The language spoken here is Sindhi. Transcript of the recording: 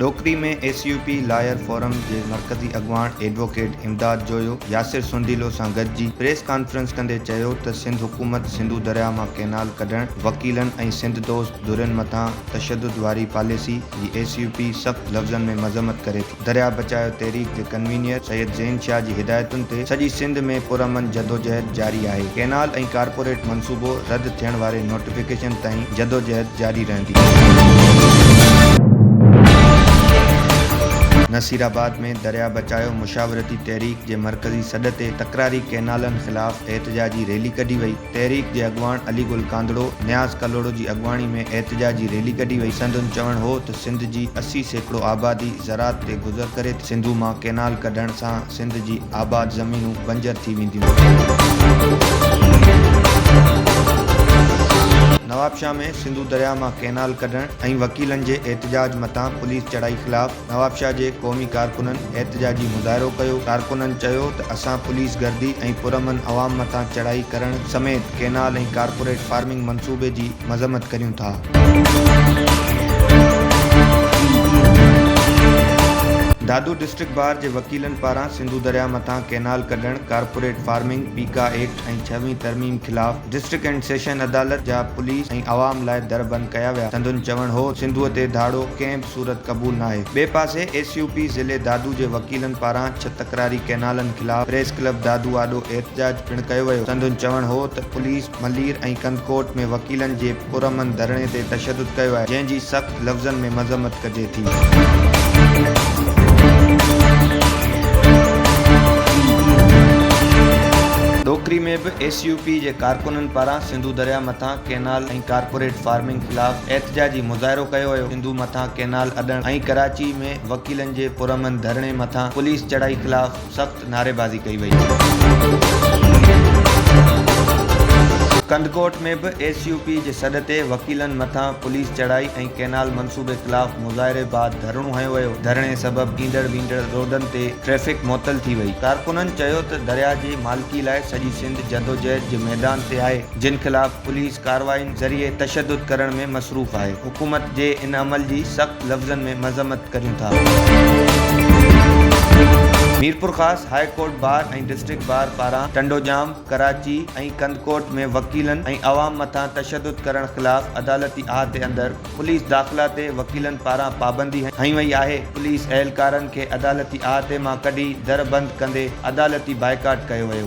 Dokri ۾ S U P lawyer forum جي مرڪزي اڳواڻ ايڊووڪيٽ امداد جويو ياسر سونڊيلو سان گڏجي پريس ڪانفرنس ڪندي چيو ته سنڌ حڪومت سنڌو درياهه مان ڪئنال ڪڍڻ، وڪيلن ۽ سنڌ دوست ڌرين مٿان تشدد واري پاليسي جي ايس يو پي سخت لفظن ۾ مذمت ڪري ٿي. درياهه بچايو تحريڪ جي ڪنوينيئر سيد زين شاهه جي هدايتن تي سڄي سنڌ ۾ پرامن جدوجهد جاري آهي، ڪئنال ۽ ڪارپوريٽ منصوبو رد ٿيڻ واري نوٽيفڪيشن تائين جدوجهد جاري رهندي. نصيرآباد ۾ درياهه بچايو مشاورتي تحريڪ جي مرڪزي سڏ تي تڪراري ڪئنالن خلاف احتجاجي ريلي ڪڍي وئي، تحريڪ جي اڳواڻ علي گل ڪانڌڙو، نياز ڪلهوڙو جي اڳواڻي ۾ احتجاجي ريلي ڪڍي وئي، سندن چوڻ هو ته سنڌ جي اسي سيڪڙو آبادي زراعت تي گذر ڪري ٿي، سنڌو مان ڪئنال ڪڍڻ سان سنڌ جي آباد زمينون بنجر ٿي وينديون. نوابشاهه ۾ سنڌو درياهه مان ڪئنال ڪڍڻ ۽ وڪيلن جي احتجاج مٿان پوليس چڙهائي خلاف نوابشاهه جي قومي ڪارڪنن احتجاجي مظاهرو ڪيو، ڪارڪنن چيو ته اسان پوليس گردي ۽ پرامن عوام مٿان چڙهائي ڪرڻ سميت ڪئنال ۽ ڪارپوريٽ فارمنگ منصوبي جي مذمت ڪريون ٿا. دادو ڊسٽرڪٽ بار جي وڪيلن پاران سنڌو درياهه مٿان ڪئنال ڪڍڻ، ڪارپوريٽ فارمنگ، پيڪا ايڪٽ ۽ ڇهوين ترميم خلاف ڊسٽرڪٽ اينڊ سيشن عدالت جا پوليس ۽ عوام لاء در بند ڪيا ويا، سندن چوڻ هو ته سنڌوء تي ڌاڙو ڪنهن به صورت قبول ناهي. ٻئي پاسي ايس يو پي ضلعي دادو جي وڪيلن پاران ڇهه تڪراري ڪئنالن خلاف پريس ڪلب دادو آڏو احتجاج پڻ ڪيو ويو، سندن چوڻ هو ته پوليس ملير ۽ ڪنڌڪوٽ ۾ وڪيلن جي پرامن ڌرڻي تي تشدد ڪيو آهي جنهن جي سخت لفظن ۾ مذمت ڪجي ٿي. ڏوڪري ۾ به ايس يو پي جي ڪارڪنن پاران سنڌو درياهه مٿان ڪئنال ۽ ڪارپوريٽ فارمنگ خلاف احتجاجي مظاهرو ڪيو ويو، سنڌو مٿان ڪئنال اڏڻ ۽ ڪراچي ۾ وڪيلن جي پرامن ڌرڻي مٿان پوليس چڙهائي خلاف. سخت نعريبازي ڪئي وئي. ڪنڌڪوٽ ۾ به ايس يو پي جي سڏ تي وڪيلن مٿان پوليس چڙهائي ۽ ڪينال منصوبي خلاف مظاهري بعد ڌرڻو هنيو ويو، ڌرڻي سبب ايندڙ ويندڙ روڊن تي ٽريفڪ معطل ٿي وئي، ڪارڪنن چيو ته درياهه جي مالڪي لاء سڄي سنڌ جدوجهد جي ميدان تي آهي، جن خلاف پوليس ڪارروائين ذريعي تشدد ڪرڻ ۾ مصروف آهي، حڪومت جي ان عمل جي سخت لفظن ۾ مذمت ڪريون ٿا. Mirpurkhas high court bar ۽ district bar پاران ٽنڊوڄام، ڪراچي ۽ ڪنڌڪوٽ ۾ وڪيلن ۽ عوام مٿان تشدد ڪرڻ خلاف عدالتي احاطي اندر پوليس داخلا تي وڪيلن پاران پابندي هنئي وئي آهي، پوليس اهلڪارن کي عدالتي احاطي مان ڪڍي در بند ڪندي عدالتي بائيڪاٽ ڪيو ويو.